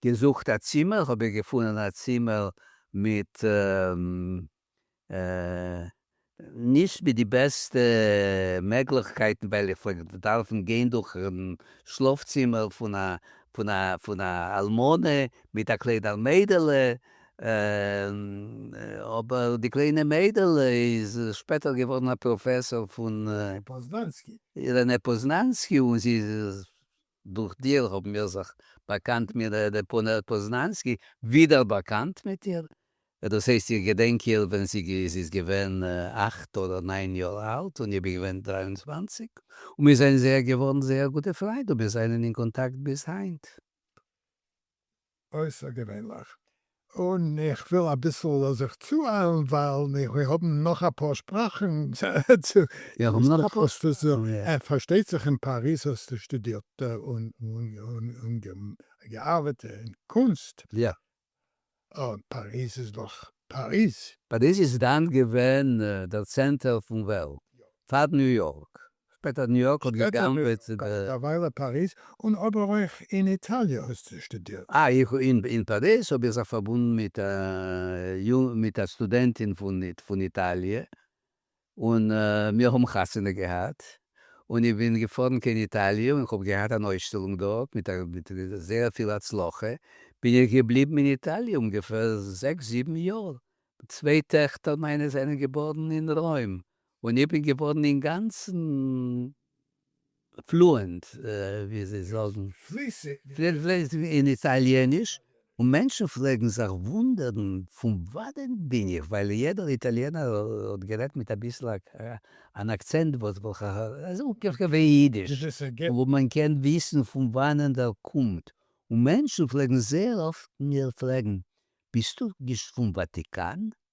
געזוכט א צימער, האב איך געפונען א צימער מיט נישט מיט די בעסטע מעגליכקייטן, ווייל איך פלעג דארפן גיין דורכן שלאף צימער פון א אלמנה מיט א קלענער מיידעלע, אבער די קליינע מיידעלע איז שפעטער געווארן א פראפעסאר פון פוזננסקי. רנה פוזננסקי און זי איז דורך דיר האבן מיר זיך באקאנט מיט רנה פוזננסקי ווידער באקאנט מיט איר דאס הייסט איך געדענק איר ווען זי איז געווען אכט אדער ניין יאר אלט און איך בין געווען דרײַ און צוואַנציק און מיר זענען זייער געווארן זייער גוטע פריינד און מיר זענען אין קאנטאקט ביז היינט. אויסערגעווענליך, און איך וויל אביסל זיך צואיילן ווייל מיר האבן נאך אפאר שפראכן צו לערנען, פארשטייט זיך אין פאריז האסטו שטודירט און געארבעט אין קונסט, און פאריז איז דאך פאריז. פאריז איז דאן געווען דער צענטער פון וועלט פאר ניו יארק, שפעטער ניו יארק האט געגנבעט די. א וויילע פאריז און אבער אויך אין איטאליע האסטו שטודירט. אה איך אין פאריז האב איך זיך פארבונדן מיט א מיט א סטודענטין פון איטאליע און מיר האבן חתונה געהאט און איך בין געפארן קיין איטאליע און איך האב געהאט אן אויסשטעלונג דארט מיט זייער פיל הצלחה בין איך געבליבן אין איטאליע אומגעפער זעקס זיבן יאר צוויי טעכטער מיינע זענען געבארן אין רוים און איך בין געווארן אינגאנצן פלוענט, ווי זיי זאגן, פליסיג, אין איטאליעניש, און מענטשן פלעגן זיך וואונדערן פון וואנעט בין איך, ווייל יעדער איטאליענער האט גערעדט מיט אביסל אן אקצענט וואס איז אפגעכאפט ווי אידיש, און מען קען וויסן פון וואנעט ער קומט, און מענטשן פלעגן זייער אפט מיר פרעגן, ביסטו נישט פון וואטיקאן?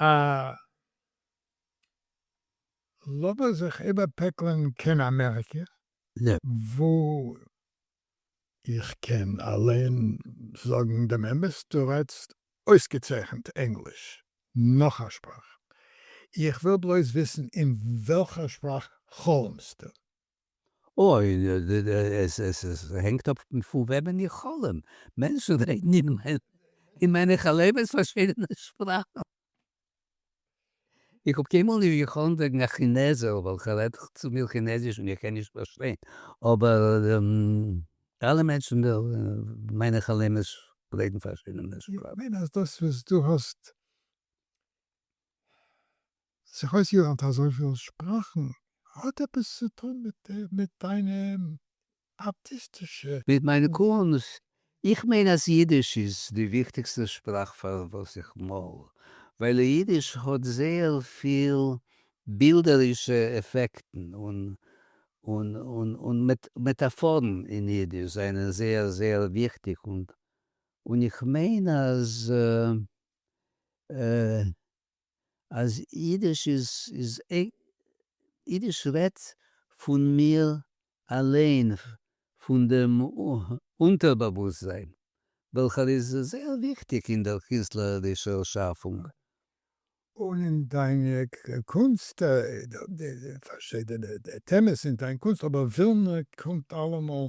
אה. לאמיר זיך איבערפעקלען קיין אמעריקע. נע. וואו. איך קען אליין זאגן דעם אמת, דו רעדסט אויסגעצייכנט ענגליש. נאך א שפראך. איך וויל בלויז וויסן אין וועלכער שפראך חלומסטו. אוי, עס הענגט אפ פון וועמען איך חלום. מענטשן רעדן אין מיינע חלומות פארשידענע שפראכן. איך האב קיינמאל נישט געחלומט וועגן א כינעזער וועלכער רעדט צו מיר כינעזיש און איך קען נישט פארשטיין, אבער אלע מענטשן אין מיינע חלומות רעדן פארשידענע שפראכן. איך מיין אז דאס וואס דו האסט זיך אויסגעלערנט אזויפיל שפראכן האט עפעס צו טון מיט דיינע ארטיסטישע. מיט מיין קונסט? איך מיין אז אידיש איז די וויכטיגסטע שפראך פאר וואס איך מאל, ווייל אידיש האט זייער פיל בילדערישע עפעקטן און מעטאפארן אין אידיש זענען זייער זייער וויכטיג, און איך מיין אז אז אידיש איז איז אידיש רעדט פון מיר אליין פון דעם אונטערבאוואוסטזיין וועלכער איז זייער וויכטיג אין דער קינסטלערישער שאפונג. און אין דיין קונסט די פארשידענע טעמעס אין דיין קונסט אבער ווילנער קומט אלעמאל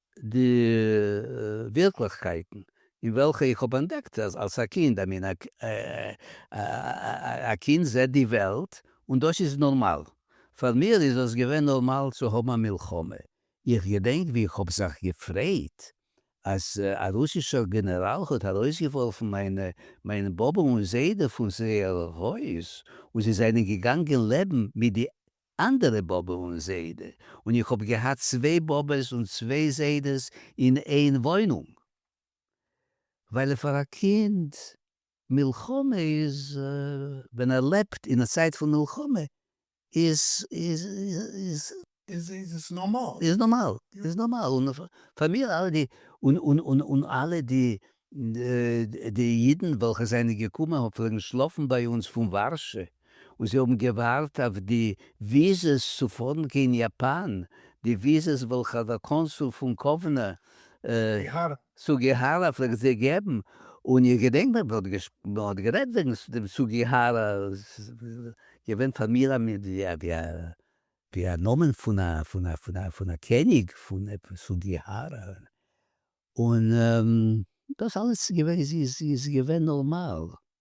די ווירקליכקייטן אין וועלכע איך האב אנטדעקט אלס א קינד, איי מין א קינד זעט די וועלט און דאס איז נארמאל. פאר מיר איז עס געווען נארמאל צו האבן א מלחמה. איך געדענק ווי איך האב זיך געפרייט אז א רוסישער גענעראל האט ארויסגעווארפן מיין באבע און זיידע פון זייער הויז און זיי זענען געגאנגען לעבן מיט די אנדערע באבע און זיידע, און איך האב געהאט צוויי באבעס און צוויי זיידעס אין איין וואוינונג, ווייל פאר א קינד מלחמה איז, ווען ער לעבט אין א צייט פון מלחמה איז, איז, איז. איז עס נארמאל. איז נארמאל, איז נארמאל, און פאר מיר אלע די, און, און, און, און אלע די, די אידן וועלכע זענען געקומען פלעגן שלאפן ביי אונז פון ווארשע, און זיי האבן געווארט אויף די וויזעס צו פארן קיין יאפאן, די וויזעס וועלכע האט דער קאנסול פון קאוונא, סוגיהארא. סוגיהארא פלעגט זיי געבן, און איך געדענק מען האט מען האט גערעדט וועגן דעם סוגיהארא, געווען פאר מיר א מין ווי א נאמען פון א פון א פון א פון א קעניג פון עפעס סוגיהארא, און דאס אלעס איז געווען נארמאל.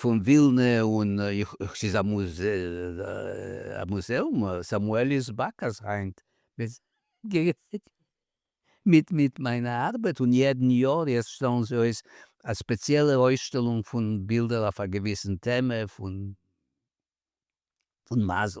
פון ווילנע און ס'איז א מוזעאום, סאמועל איז באקאס היינט מיט מיט מיינע ארבעט און יעדן יאר יעצט שטעלן זיי אויס א ספעציעלע אויסשטעלונג פון בילדער אויף א געוויסן טעמע פון מזל.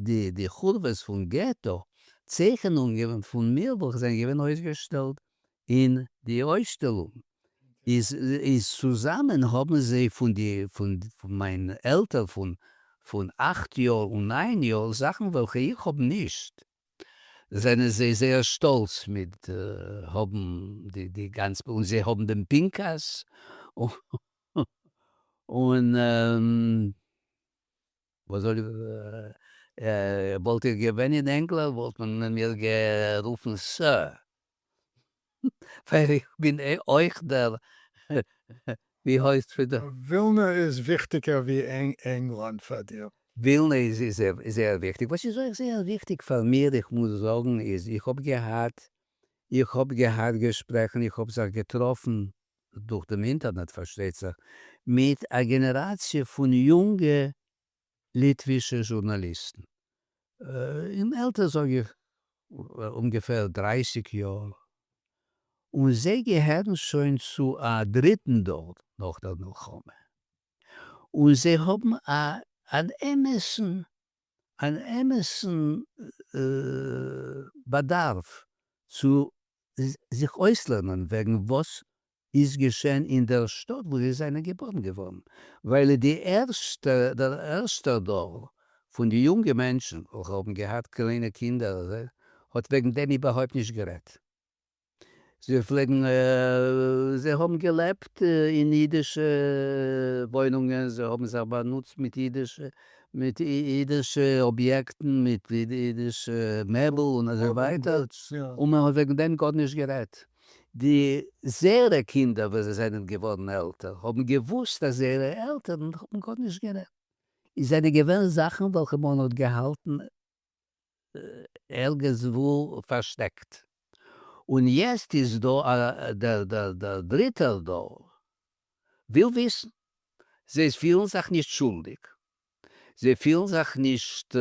די חורבות פון געטא צייכענונגען פון מיר וועלכע זענען געווען אויסגעשטעלט אין די אויסשטעלונג איז צוזאמען האבן זיי פון מיין עלטער פון אכט יאר און ניין יאר זאכן וועלכע איך האב נישט זענען זיי זייער שטאלץ מיט האבן די גאנצע און זיי האבן דעם פנקס און. וואס זאל איך זאגן? וואלט איך געווען אין ענגלאנד וואלט מען מיר גערופן סער, ווייל איך בין אויך דער ווי הויזט פון די. ווילנע איז וויכטיגער ווי ענגלאנד פאר דיר? ווילנע איז זייער וויכטיג, וואס איז אויך זייער וויכטיג פאר מיר, איך מוז זאגן, איז איך האב געהאט, איך האב געהאט געשפרעכן, איך האב זיך געטראפן. דורך דעם אינטערנעט פארשטייט זיך, מיט א גענעראציע פון יונגע ליטווישע זשורנאליסטן, אין עלטער זאג איך אומגעפער דרייסיג יאר, און זיי געהערן שוין צו א דריטן דור נאך דער מלחמה, און זיי האבן אן אמת'ן אן אמת'ן באדארף צו זיך אויסלערנען וועגן וואס איז געשען אין דער שטאט וואו זיי זענען געבוירן געווארן, ווייל די ערשטע, דער ערשטער דור פון די יונגע מענטשן וועלכע האבן געהאט קליינע קינדער האט וועגן דעם איבערהויפט נישט גערעדט. זיי פלעגן זיי האבן געלעבט אין אידישע וואוינונגען, זיי האבן זיך באנוצט מיט אידישע מיט אידישע אביעקטן, מיט אידישע מעבל און אזוי ווייטער, און מען האט וועגן דעם גארנישט גערעדט. די זייערע קינדער ווען זיי זענען געווארן עלטער האבן געוואוסט אז זייערע עלטערן האבן גארנישט גערעדט, עס זענען געווען זאכן וועלכע מען האט געהאלטן ערגעץ וואו פארשטעקט. און יעצט איז דא א דער דער דריטער דור וויל וויסן. זיי פילן זיך נישט שולדיג, זיי פילן זיך נישט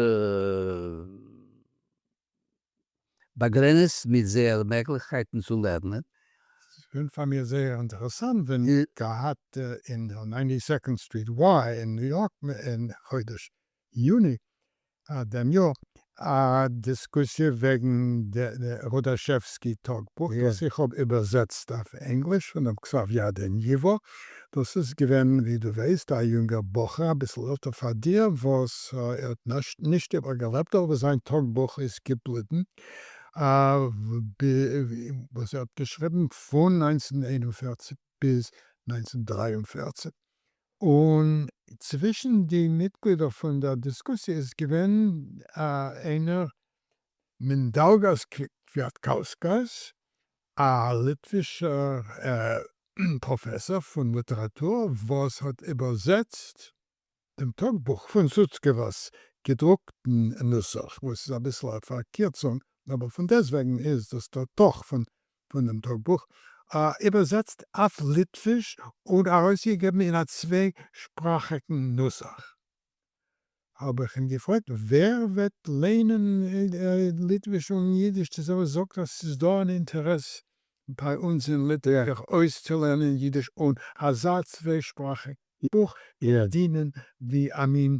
באגרעניצט מיט זייער מעגליכקייטן צו לערנען. ס'איז געווען פאר מיר זייער אינטערעסאנט ווען מ'האט געהאט אין נײַנטי סעקאנד סטריט וויי אין ניו יארק אין חודש יוני אט דעם יאר א דיסקוסיע וועגן די רודאשעווסקי טאגבוך וואס איך האב איבערזעצט אויף ענגליש פון דעם כתב יד אין ייווא, דאס איז געווען ווי דו ווייסט א יונגער בחור אביסל עלטער פאר דיר וואס ער האט נישט איבערגעלעבט אבער זיין טאגבוך איז געבליבן וואס ער האט געשריבן פון נײַנצן איין און פֿערציק ביז נײַנצן דרײַ און פֿערציק און צווישן די מיטגלידער פון דער דיסקוסיע איז געווען איינער מינדאלגאס קוויאטקאוסקאס, א ליטווישער פראפעסאר פון ליטעראטור, וואס האט איבערזעצט דעם טאגבוך פון סוצקעווא'ס געדרוקטן נוסח, וואס איז אביסל א פארקירצונג, אבער פונדעסטוועגן איז דאס דער תוך פון פון דעם טאגבוך, איבערזעצט אויף ליטוויש און ארויסגעגעבן אין א צוויי שפראכיגן נוסח. האב איך אים געפרעגט ווער וועט ליינען ליטוויש און אידיש צוזאמען, זאגט ער ס'איז דא אן אינטערעס ביי אונז אין ליטע זיך אויסצולערנען אידיש און אזא צוויי שפראכיג בוך דינען ווי א מין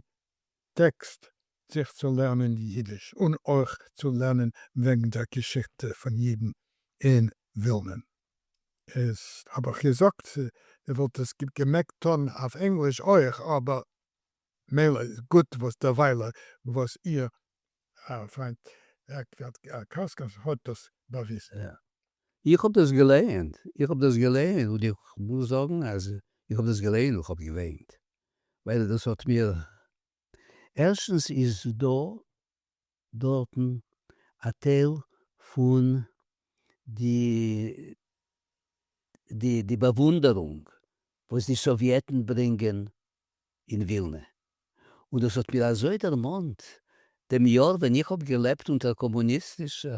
טעקסט זיך צו לערנען יידיש און אויך צו לערנען וועגן דער געשיכטע פון יידן אין ווילנען איז האב איך געזאגט איך וואלט עס געמעגט טון אויף ענגליש אויך אבער מילא איז גוט וואס דערוויילע וואס איר פריינט קאסקאס האט דאס באוויזן. איך האב דאס געלייענט איך האב דאס געלייענט און איך מוז זאגן אז איך האב דאס געלייענט און איך האב געוויינט. ווייל דאס האט מיר, ערשטנס איז דא דארטן א טייל פון די די די באוואונדערונג וואס די סאוויעטן ברענגען אין ווילנע, און דאס האט מיר אזוי דערמאנט דעם יאר ווען איך האב געלעבט אונטער קאמוניסטישע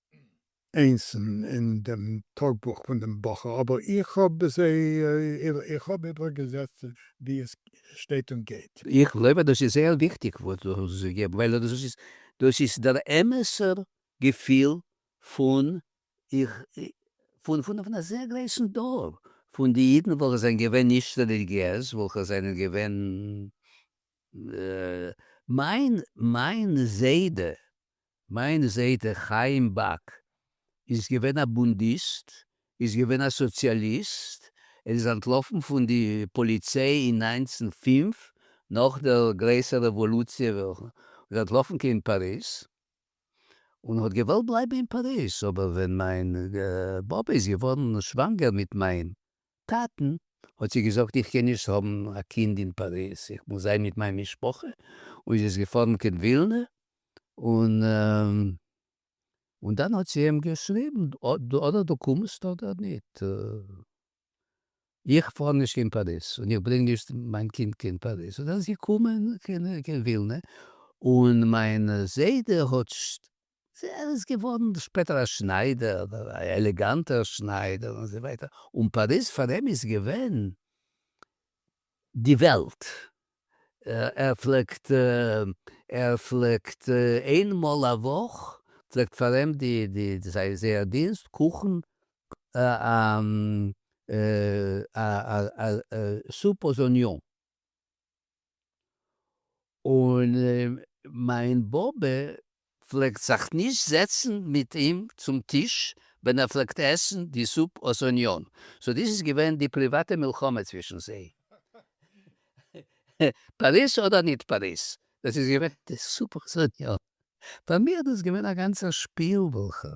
איינס אין דעם טאגבוך פון דעם בחור, אבער איך האב עס איך האב איבערגעזעצט ווי עס שטייט און גייט. איך גלויב אז דאס איז זייער וויכטיג וואס דו האסט געגעבן, ווייל דאס איז דער אמת'ער געפיל פון פון א זייער גרויסן דור פון די אידן וועלכע זענען געווען נישט רעליגיעז, וועלכע זענען געווען מיין זיידע מיין זיידע חיים באק איז געווען א בונדיסט, איז געווען א סאציאליסט, ער איז אנטלאפן פון די פאליציי אין נײַנצן פֿינף נאך דער גרעסער רעוואלוציע וועלכע איז אנטלאפן קיין פאריז און האט געוואלט בלייבן אין פאריז אבער ווען מיין באבע איז געווארן שוואנגער מיט מיין טאטן, האט זי געזאגט, איך קען נישט האבן א קינד אין פאריז, איך מוז זיין מיט מיין משפחה, און זי איז געפארן קיין ווילנע, און און דאן האט זי אים געשריבן, אדער דו קומסט אדער ניט, איך פאר נישט קיין פאריז, און איך ברענג נישט מיין קינד קיין פאריז, און אז זי קומען קיין ווילנע, און מיין זיידע האט ער איז געווארן שפעטער א שניידער, אבער א עלעגאנטער שניידער און אזוי ווייטער, און פאריז פאר אים איז געווען די וועלט, ער פלעגט, ער פלעגט איין מאל א וואך פלעגט פאר אים די די זייער דינסט קאכן א סופ אוז אניאן. און מיין באבע פלעגט זיך נישט זעצן מיט אים צום טיש ווען ער פלעגט עסן די זופ אויס אניאן, סאו דאס איז געווען די פריוואטע מלחמה צווישן זיי. פאריז אדער ניט פאריז, דאס איז געווען די זופ אויס אניאן. פאר מיר איז דאס געווען א גאנצער שפיל וולכע.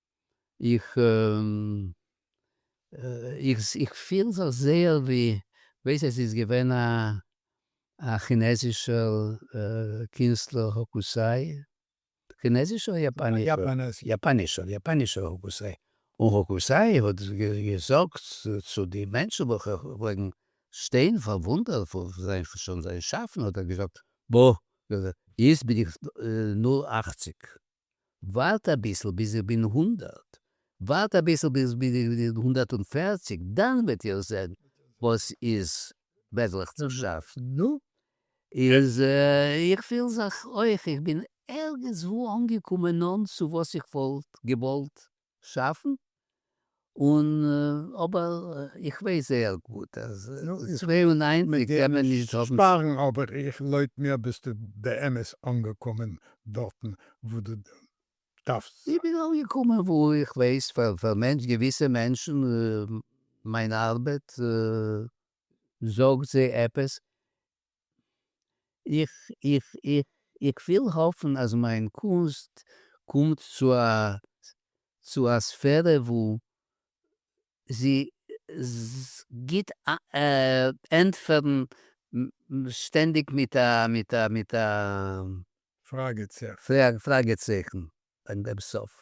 איך איך פיל זיך זייער ווי ווייס עס איז געווען א א כינעזישער קינסטלער האקוסיי, כינעזיש אדער יאפאנעזיש? יאפאנעזיש. יאפאנעזישער האקוסיי, און האקוסיי האט געזאגט צו די מענטשן וועלכע פלעגן שטיין פארוואונדערט פון זיין זיין שאפן האט ער געזאגט בא יעצט בין איך נאר אַכציק ווארט אביסל ביז איך בין הונדערט, ווארט אביסל ביז איך בין הונדערט און פערציג, דאן וועט איר זען וואס איז מעגליך צו שאפן. נו, איז איך פיל זיך אויך איך בין ערגעץ וואו אנגעקומען נאנט צו וואס איך וואלט געוואלט שאפן, און אבער איך ווייס זייער גוט אז צוויי און ניינציג קען מען נישט האבן. שפארן אבער איך לויט מיר ביסטו באמת אנגעקומען דארטן וואו דו דארפסט זיין. איך בין אנגעקומען וואו איך ווייס פאר מענטש געוויסע מענטשן מיין ארבעט זאגט זיי עפעס איך וויל האפן אז מיין קונסט קומט צו א ספערע וואו זי גיט ענטפערן שטענדיג מיט א פראגע צייכן ביים סוף,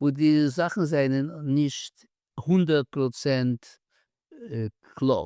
וואו די זאכן זענען נישט הונדערט פראצענט קלאר.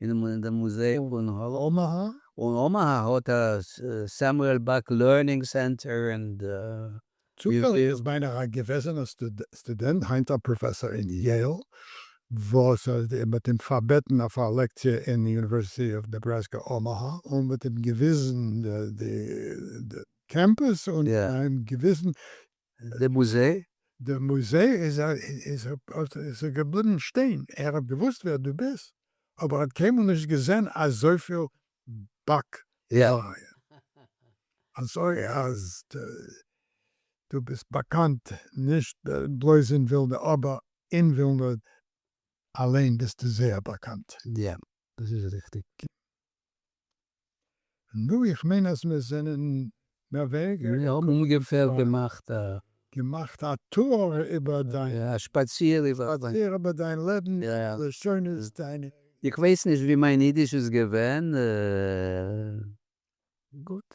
אין די מוזעאום און אמאהא. און אמאהא האט א סעמועל באק לערנינג סענטער אין די. צופעליג איז מיינעך א געוועזענע סטודענט היינט א פראפעסאר אין יעיל וואס מ'האט אים פארבעטן אויף א לעקציע אין יוניווערסיטי אוו נעבראסקא אמאהא און מ'האט אים געוויזן די קעמפוס און אים געוויזן דער מוזיי? דער מוזיי איז א איז א האט איז ער געבליבן שטיין, ער האט געוואוסט ווער דו ביסט, אבער ער האט קיינמאל נישט געזען אזויפיל באק לייען, אזוי אז דו ביסט באקאנט נישט בלויז אין ווילנע, אבער אין ווילנע אליין ביסטו זייער באקאנט. יא, דאס איז ריכטיג. נו איך מיין אז מיר זענען מער ווייניגער. מיר האבן אומגעפער געמאכט א. געמאכט א טור איבער דיין. יא א שפאציר איבער דיין. שפאציר איבער דיין לעבן, לשונות דיינע. איך ווייס נישט ווי מיין אידיש איז געווען גוט.